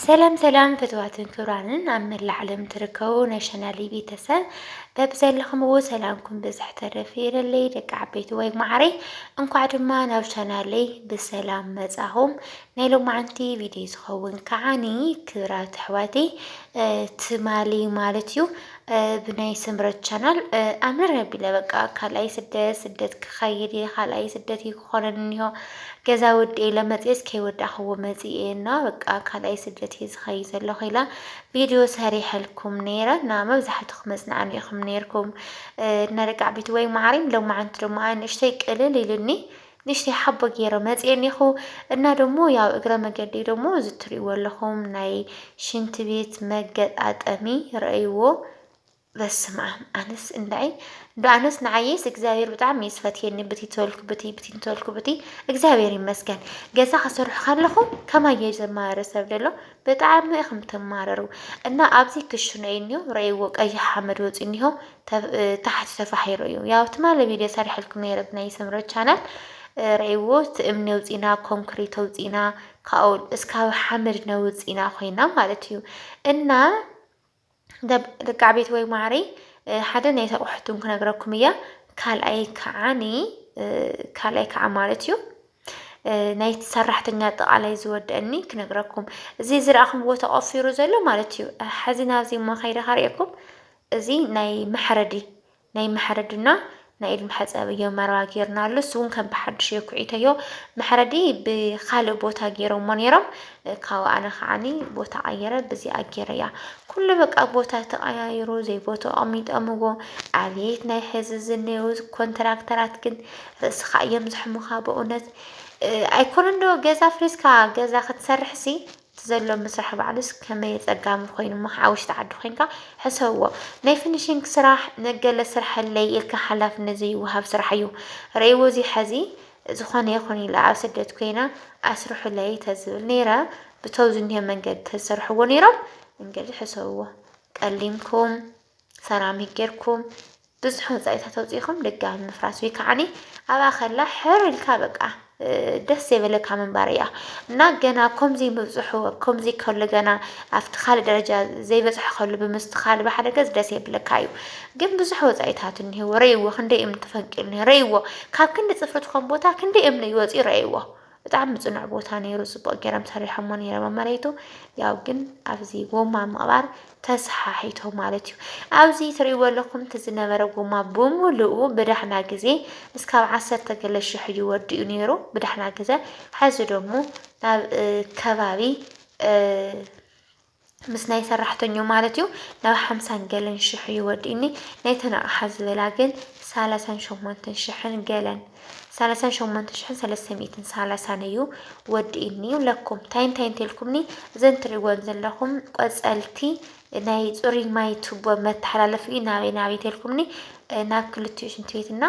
ሰላም ሰላም ፍትዋትን ክብራንን ኣብ መላእ ዓለም ትርከቡ ናይ ሸናሊ ቤተሰብ በብዘለኹምዎ ሰላምኩም ብዝሕ ተረፍ ይበለይ ደቂ ዓበይቲ ወይ ማዕረይ እንኳዕ ድማ ናብ ሸናለይ ብሰላም መጻኹም ናይ ሎማዓንቲ ቪድዮ ዝኸውን ከዓኒ ክብራት ኣሕዋተይ ትማሊ ማለት እዩ ብናይ ስምረት ቻናል ኣምር ኣቢለ በቃ ካልኣይ ስደት ስደት ክኸይድ እየ ካልኣይ ስደት እዩ ክኾነን እኒሆ ገዛ ወዲኤ ኢለ መፅኤስ ከይወዳእኽዎ መፅኤ እና በቃ ካልኣይ ስደት እየ ዝኸይድ ዘለኹ ኢላ ቪድዮ ሰሪሐልኩም ነይረ እና መብዛሕትኹም መፅናዕኒ ኢኹም ነይርኩም እና ደቂ ዓበይቲ ወይ ማዕሪም ሎማዓንቲ ድማ ኣንእሽተይ ቅልል ኢሉኒ ንእሽተይ ሓቦ ጌረ መጽየ እኔኹ እና ደሞ ያው እግረ መገደይ ደሞ እዚ ትርእይዎ ኣለኹም ናይ ሽንት ቤት መገጣጠሚ ረእይዎ በስምኣም ኣነስ እንዳይ እንዶ ኣነስ ንዓይስ እግዚኣብሔር ብጣዕሚ እዩ ዝፈትየኒ ብቲ ተወልኩ ብቲ ብቲ እንተወልኩ ብቲ እግዚኣብሔር ይመስገን ገዛ ክሰርሑ ከለኹ ከማይ እዩ ዘማህረ ሰብ ደሎ ብጣዕሚ ኢኹም ትማረሩ እና ኣብዚ ክሽኖ እዩ እኒሆ ረእይዎ ቀይሕ ሓመድ ወፅዩ እኒሆ ታሕቲ ተፋሒሩ እዩ ያው ትማሊ ቪድዮ ሰሪሐልኩም ነይረ ብናይ ስምረት ቻናል ረእይዎ እቲ እምኒ ኣውፂና ኮንክሪት ኣውፂና ካብኡ እስካብ ሓመድ ነውፅና ኮይና ማለት እዩ እና ደቂ ዓቤትወይ ማዓረይ ሓደ ናይ ተቑሕቱ ክነግረኩም እያ ካልኣይ ከዓኒ ካልኣይ ከዓ ማለት እዩ ናይ ሰራሕተኛ ኣጠቃላይ ዝወደአኒ ክነግረኩም እዚ ዝረኣኹምዎ ተቆፊሩ ዘሎ ማለት እዩ ሓዚ ናብዚ ሞ ከይደ ካሪኤኩም እዚ ናይ መሕረዲ ናይ መሕረድና ናይ ኢድ መሕጸቢ እዮ መረባ ጌርናሉ እሱ ውን ከም ብሓድሽ እዮ ኩዒተዮ መሕረዲ ብካልእ ቦታ ጌሮሞ ኔሮም ካብኡ ኣነ ከዓኒ ቦታ ቀይረ ብዚኣ ጌረያ ኩሉ በቃ ቦታ ተቀያይሩ ዘይቦትኡ ኣቀሚጦምዎ ኣብየት ናይ ሕዚ ዝኔው ኮንትራክተራት ግን ርእስኻ እዮም ዘሕሙኻ በእውነት ኣይኮነን ዶ ገዛ ፍሪስካ ገዛ ክትሰርሕሲ እቲ ዘሎ ምስራሕ ባዕሉስ ከመይ ኣጸጋሚ ኮይኑ እሞ ኣብ ውሽጢ ዓዲ ኮይንካ ሕሰብዎ። ናይ ፍኒሺንግ ስራሕ ንገለ ስርሐለይ ኢልካ ሓላፍነት ዘይወሃብ ስራሕ እዩ። ርእይዎ እዚ ሐዚ ዝኾነ ይኹን ኢለ ኣብ ስደት ኮይነ ኣስርሑለይ ተዝብል ነይረ ብተው ዝኒሆ መንገዲ ተዝሰርሕዎ ነይሮም እንግድሕ ሕሰብዎ። ቀሊምኩም። ሰራሚክ ጌርኩም ብዙሕ ወጻኢታት ኣውጺእኩም ድጋሚ ምፍራስ ወይ ከዓኒ ኣብኣ ከላ ሕር ኢልካ በቃ ደስ ዘይበለካ ምንባር እያ እና ገና ከምዚ ምብፅሑ ከምዚ ከሉ ገና ኣብቲ ካልእ ደረጃ ዘይበፅሐ ከሉ ብምስትኻል ብሓደ ገዝ ደስ የብለካ እዩ ግን ብዙሕ ወፃኢታት እኒህዎ ረእይዎ ክንደይ እምኒ ተፈንቂሉ ረእይዎ ካብ ክንዲ ፅፍሪ ትኾን ቦታ ክንደይ እምኒ ይወፅኡ ረእይዎ ብጣዕሚ ጽኑዕ ቦታ ነይሩ ጽቡቅ ገይሮም ሰሪሖሞ ነይሮም ኣብ መሬቱ ያው ግን ኣብዚ ጎማ ምቕባር ተሰሓሒቶ ማለት እዩ ኣብዚ ትርእይዎ ኣለኹም እቲ ዝነበረ ጎማ ብምሉኡ ብዳሕና ግዜ እስካብ ዓሰርተ ገለ ሽሕ እዩ ወዲኡ ነይሩ ብዳሕና ግዜ ሕዚ ደሞ ናብ ከባቢ ምስ ናይ ሰራሕተኞ ማለት እዩ ናብ ሓምሳን ገለን ሽሕ እዩ ወዲእኒ ናይተን ኣቕሓ ዝበላ ግን ሳላሳን ሸሞንተን ሽሕን ገለን ሳላሳን ሸሞንተ ሽሕን ሰለስተ ሚእትን ሳላሳን እዩ ወዲእኒ ይብለኩም እንታይ እንታይ እንተልኩምኒ እዘን ትሪእወን ዘለኹም ቆፀልቲ ናይ ፅሩይ ማይ ቱቦ መተሓላለፊ ናበይ ናበይ ተልኩምኒ ናብ ክልቲኡ ሽንቲ ቤትና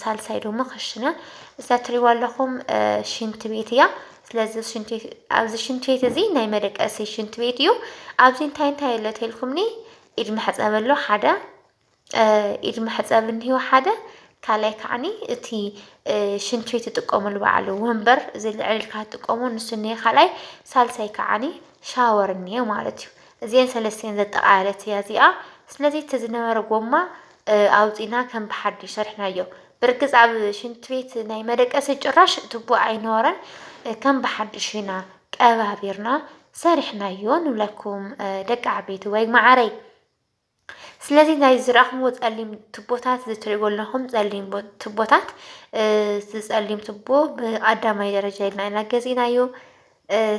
ሳልሳይ ደሞ ክሽነ እዛ ትሪዋ ኣለኹም ሽንቲ ቤት እያ ስለዚ ኣብዚ ሽንት ቤት እዚ ናይ መደቀሲ ሽንት ቤት እዩ። ኣብዚ እንታይ እንታይ ኣሎ ተልኩምኒ ኢድ መሕፀቢ ኣሎ ሓደ ኢድ መሕፀቢ እኒሀ ሓደ ካልኣይ ከዓኒ እቲ ሽንት ቤት ትጥቀሙሉ በዓሉ ወንበር እዚ ልዕል ኢልካ ትጥቀሙ ንሱ እኒሀ ካልኣይ ሳልሳይ ከዓኒ ሻወር እኒሀ ማለት እዩ። እዚኤን ሰለስቲኤን ዘጠቓለለት እያ እዚኣ። ስለዚ እቲ ዝነበረ ጎማ ኣውጺእና ከም ብሓድሽ ሰሪሕናዮ። ብርግጽ ኣብ ሽንት ቤት ናይ መደቀሲ ጭራሽ ቱቦ ኣይነበረን። ከም ብሓድሽ ኢና ቀባቢርና ሰሪሕናዮ ንብለኩም ደቂ ዓበይቲ ወይ ማዓረይ። ስለዚ ናይ ዝረኣኹምዎ ጸሊም ትቦታት ዝትሪእዎ ኣለኹም ጸሊም ትቦታት ዝጸሊም ትቦ ብቀዳማይ ደረጃ ኢልና ኢና ገዚእናዮ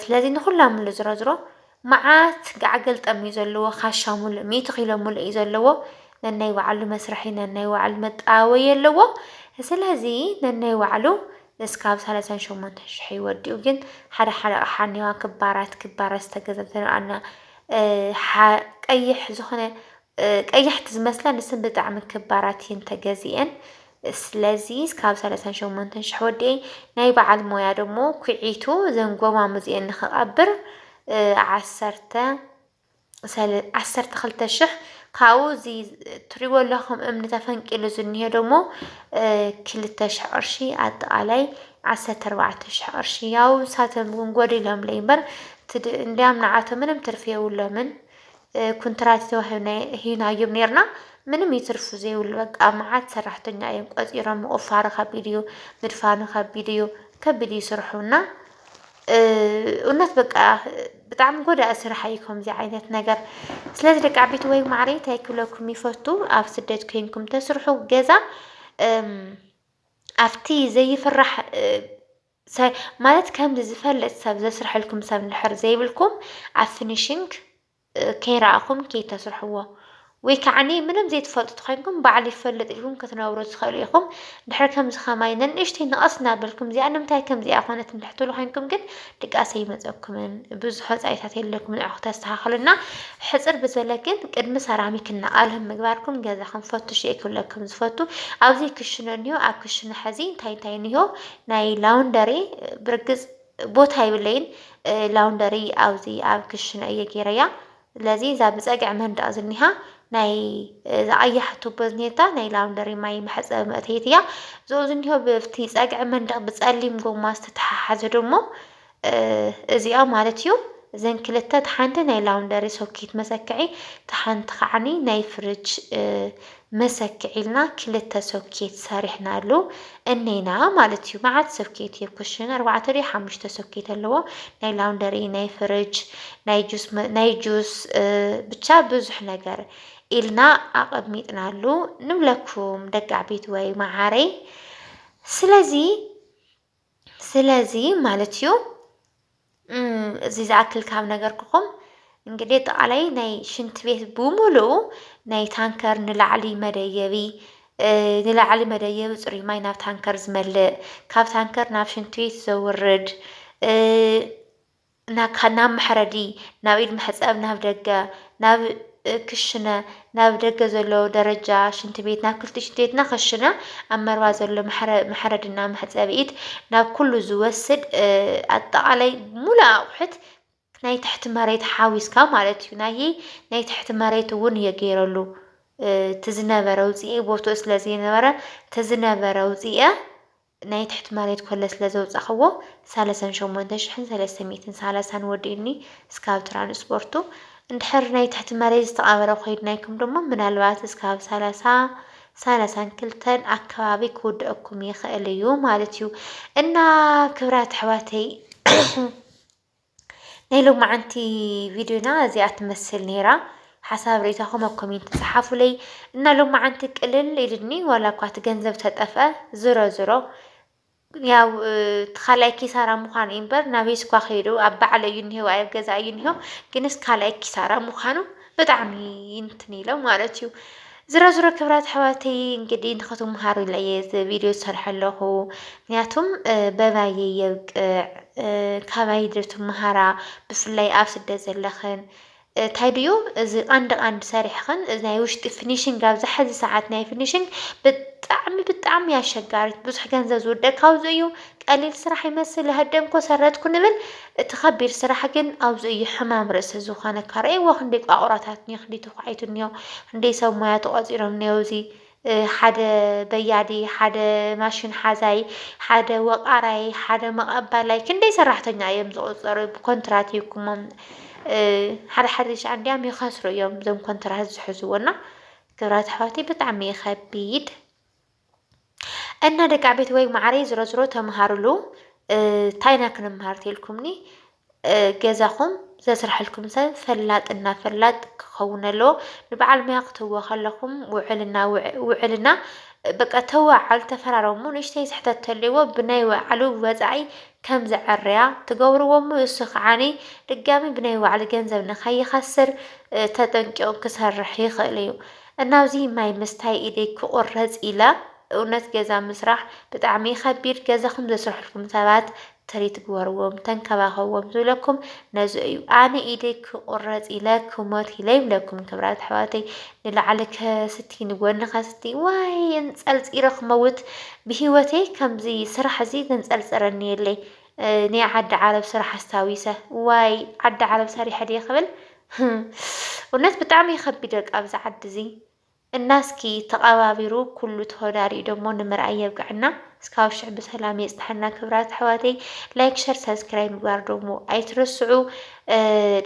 ስለዚ ንኹላ ምሉ ዝሮዝሮ መዓት ገዓ ገልጠም እዩ ዘለዎ ካሻ ሙሉእ ሚእቲ ኪሎ ሙሉእ እዩ ዘለዎ ነናይ ባዕሉ መስርሒ ነናይ ባዕሉ መጣወይ ኣለዎ ስለዚ ነናይ ባዕሉ እስካብ ሰላሳን ሸሞንተ ሽሕ ይወዲኡ ግን ሓደ ሓደ ኣቕሓ እኒዋ ክባራት ክባራት ዝተገዘብተ ንኣና ቀይሕ ዝኾነ ቀያሕቲ ዝመስላ ንስን ብጣዕሚ ክባራት እየን ተገዚአን ስለዚ ካብ ሰለሳን ሸሞንተን ሽሕ ወዲኤይ ናይ በዓል ሞያ ደሞ ኩዒቱ እዘን ጎማሙዚኤን ንክቐብር ዓሰርተ ሰለ ዓሰርተ ክልተ ሽሕ ካብኡ እዚ ትሪእዎ ኣለኹም እምኒ ተፈንቂሉ ዝኒሄ ደሞ ክልተ ሽሕ ቅርሺ ኣጠቓላይ ዓሰርተ ኣርባዕተ ሽሕ ቅርሺ ያው ንሳቶም እውን ጎዲሎምለይ እምበር ትድ- እንዲያም ንዓቶም ምንም ትርፊ የብሎምን ኩንትራት ተዋሂብናዮ ሂብናዮም ኔርና ምንም ይትርፉ ዘይብሉ በቃ መዓት ሰራሕተኛ እዮም ቆጺሮም። ምቑፋሩ ከቢድ እዩ፣ ምድፋኑ ከቢድ እዩ፣ ከቢድ እዩ ስርሑና እውነት በቃ ብጣዕሚ ጎዳኢ ስራሕ እዩ ከምዚ ዓይነት ነገር። ስለዚ ደቂ ዓበይቲ ወይ ማዕረ እንታይ ክብለኩም ይፈቱ ኣብ ስደት ኮይንኩም ተስርሑ ገዛ ኣብቲ ዘይፍራሕ ሰ ማለት ከምዚ ዝፈልጥ ሰብ ዘስርሐልኩም ሰብ እንድሕር ዘይብልኩም ኣብ ፊኒሺንግ ከይረኣኹም ከይተስርሕዎ ወይ ከዓኒ ምንም ዘይትፈልጡ ተኾይንኩም ባዕሉ ይፈልጥ ኢልኩም ክትነብሩ ትኽእሉ ኢኹም ድሕር ከምዚ ከማይ ነንእሽተይ ንቐስ እናበልኩም እዚኣ ንምንታይ ከምዚኣ ኮነት እንድሕር ትብሉ ኮይንኩም ግን ድቃሰ ይመፀኩምን ብዙሕ ወፃኢታት የለኩም ንዕኹ ተስተኻኽሉና ሕፅር ብዘለ ግን ቅድሚ ሰራሚክ እናቓልህም ምግባርኩም ገዛኹም ፈትሹ እየ ክብለኩም ዝፈቱ ኣብዚ ክሽነ እኒሆ ኣብ ክሽነ ሕዚ እንታይ እንታይ እኒሆ ናይ ላውንደሪ ብርግጽ ቦታ ይብለይን ላውንደሪ ኣብዚ ኣብ ክሽነ እየ ገይረያ ስለዚ እዛ ብጸግዒ መንደቕ ዝኒሃ ናይ ዝኣያሕ ቱቦ ዝኔታ ናይ ላውንደሪ ማይ መሕፀቢ መእተይት እያ እዞ ዝኒሆ ብፍቲ ጸግዒ መንደቕ ብጸሊም ጎማ ዝተተሓሓዘ ደሞ እዚኣ ማለት እዩ እዘን ክልተ እታ ሓንቲ ናይ ላውንደሪ ሶኪት መሰክዒ እታ ሓንቲ ከዓኒ ናይ ፍርጅ መሰክዒ ኢልና ክልተ ሶኬት ሰሪሕናሉ እኔና ማለት እዩ። መዓት ሶኬት እዩ ኩሽን ኣርባዕተ ድዩ ሓሙሽተ ሶኬት ኣለዎ ናይ ላውንደሪ ናይ ፍርጅ ናይ ጁስ ናይ ጁስ ብቻ ብዙሕ ነገር ኢልና ኣቐሚጥናሉ ንብለኩም ደቂ ዓበይቲ ወይ መዓረይ ስለዚ ስለዚ ማለት እዩ እዚ ዝኣክል ካብ ነገርኩኹም እንግዲህ ኣጠቃላይ ናይ ሽንት ቤት ብሙሉኡ ናይ ታንከር ንላዕሊ መደየቢ ንላዕሊ መደየቢ ፅሩይ ማይ ናብ ታንከር ዝመልእ ካብ ታንከር ናብ ሽንት ቤት ዘውርድ ናካ ናብ መሕረዲ፣ ናብ ኢድ መሕጸብ፣ ናብ ደገ፣ ናብ ክሽነ፣ ናብ ደገ ዘሎ ደረጃ ሽንቲ ቤት፣ ናብ ክልቲኡ ሽንቲ ቤትና ክሽነ፣ ኣብ መርባ ዘሎ መሕረድና መሕጸቢ ኢድ፣ ናብ ኩሉ ዝወስድ ኣጠቓላይ ሙሉእ ኣቑሑት ናይ ትሕቲ መሬት ሓዊስካ ማለት እዩ። ናይ ናይ ትሕቲ መሬት እውን እየ ገይረሉ እቲ ዝነበረ ውፅኤ ቦትኡ ስለ ዘይነበረ እቲ ዝነበረ ውፅኤ ናይ ትሕቲ መሬት ኮለ ስለ ዘውጻኽዎ ሳለሳን ሸሞንተ ሽሕን ሰለስተ ሚእትን ሳላሳን ወዲኡኒ እስካብ ትራንስፖርቱ እንድሕር ናይ ትሕቲ መሬት ዝተቀበረ ኮይድናይኩም ድማ ምናልባት እስካብ ሳላሳ ሳላሳን ክልተን ኣከባቢ ክውደኣኩም ይኽእል እዩ ማለት እዩ እና ክብራት ኣሕዋተይ ናይ ሎማዓንቲ ቪድዮና እዚኣ ትመስል ነይራ። ሓሳብ ርእይታኹም ኣብ ኮሜንት ጸሓፉለይ እና ሎማዓንቲ ቅልል ኢልኒ ዋላ እኳ እቲ ገንዘብ ተጠፍአ ዝሮ ዝሮ ያው እቲ ካልኣይ ኪሳራ ምዃኑ እዩ እምበር ናበይ ስኳ ከይዱ ኣብ ባዕለ እዩ እኒሄው ኣብ ገዛ እዩ እኒሄው ግንስ ካልኣይ ኪሳራ ምዃኑ ብጣዕሚ እንትን ኢለ ማለት እዩ ዝሮ ዝሮ ክብራት ኣሕዋተይ እንግዲህ ንክትምሃሩ ኢለ እየ እዚ ቪድዮ ዝሰርሐ ኣለኹ ምክንያቱም በባየ የብቅዕ ካባይ ዶ ትምሃራ ብፍላይ ኣብ ስደት ዘለኽን እንታይ ድዩ እዚ ቀንዲ ቀንዲ ሰሪሕኽን እዚ ናይ ውሽጢ ፊኒሽንግ ኣብዚ ሕዚ ሰዓት ናይ ፊኒሽንግ ብጣዕሚ ብጣዕሚ ኣሸጋሪት ብዙሕ ገንዘብ ዝውደእ ካብዚ እዩ ቀሊል ስራሕ ይመስል ሃደምኮ ሰረትኩ ንብል እቲ ከቢድ ስራሕ ግን ኣብዚ እዩ ሕማም ርእሲ ዝኾነካ ረኤዎ ክንደይ ቋቑራታት እንዮ ክንደይ ተዃዒቱ እንዮ ክንደይ ሰብ ሞያ ተቖጺሮም እንዮ ኣብዚ ሓደ በያዲ ሓደ ማሽን ሓዛይ ሓደ ወቓራይ ሓደ መቐባላይ ክንደይ ሰራሕተኛ እዮም ዝቑጸሩ ብኮንትራት ይኩሞም ሓደ ሓደ ሻዕ እንዲያም ይኸስሩ እዮም እዞም ኮንትራት ዝሕዝዎ እና ክብራት ኣሕዋተይ ብጣዕሚ እዩ ከቢድ እና ደቂ ቤት ወይ ማዕረይ ዝሮዝሮ ተምሃሩሉ ታይና ክንምሃር ተልኩምኒ ገዛኹም ዘስርሐልኩም ሰብ ፈላጥ እና ፈላጥ ክኸውን ኣለዎ ንበዓል ሙያ ክትህዎ ከለኹም ውዕልና ውዕልና በቃ ተዋዓል ተፈራረሙ ንእሽተይ ስሕተት ተልዎ ብናይ ወዓሉ ወፃኢ ከም ዘዐርያ ትገብርዎ እሞ እሱ ከዓኒ ድጋሚ ብናይ ወዓሉ ገንዘብ ንኸይኸስር ተጠንቂቑ ክሰርሕ ይኽእል እዩ። እናብዚ ማይ ምስታይ ኢደይ ክቁረጽ ኢለ እውነት ገዛ ምስራሕ ብጣዕሚ ይከቢድ ገዛኩም ዘስርሕልኩም ሰባት ትሪት ግበርዎም ተንከባከብዎም ዝብለኩም ነዚ እዩ ኣነ ኢደይ ክቁረጽ ኢለ ክሞት ኢለ ይብለኩም ክብራት ኣሕዋተይ ንላዕሊ ከስቲ ንጎኒ ከስቲ ዋይ እንጸልጺረ ክመውት ብሂወተይ ከምዚ ስራሕ እዚ ዘንጸልጽረኒ የለይ ኔይ ዓዲ ዓረብ ስራሕ ኣስታዊሰ ዋይ ዓዲ ዓረብ ሰሪሐ ድየ ክብል ህም እውነት ብጣዕሚ እዩ ከቢድ በቃ ኣብዚ ዓዲ እዚ እና እስኪ ተቐባቢሩ ኩሉ ተወዳሪኡ ደሞ ንምርኣይ የብቅዐና እስካብ ሽዕ ብሰላም የፅንሐና ክብራት ኣሕዋተይ ላይክ ሸር ሰብስክራይብ ምግባር ደሞ ኣይትረስዑ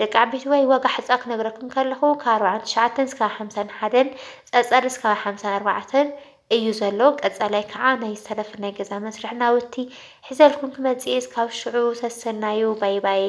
ደቂ ዓበይቲ ወይ ዋጋ ሕፃ ክነግረኩም ከለኹ ካብ ኣርባዓን ትሽዓተን እስካብ ሓምሳን ሓደን ፀፀር እስካብ ሓምሳን ኣርባዕተን እዩ ዘሎ ቀጻላይ ካኣ ናይ ሰለፍን ናይ ገዛ መስርሕን ናውቲ ሒዘልኩም ክመጽእ እየ እስካብ ሽዑ ሰሰናዩ ባይባይ።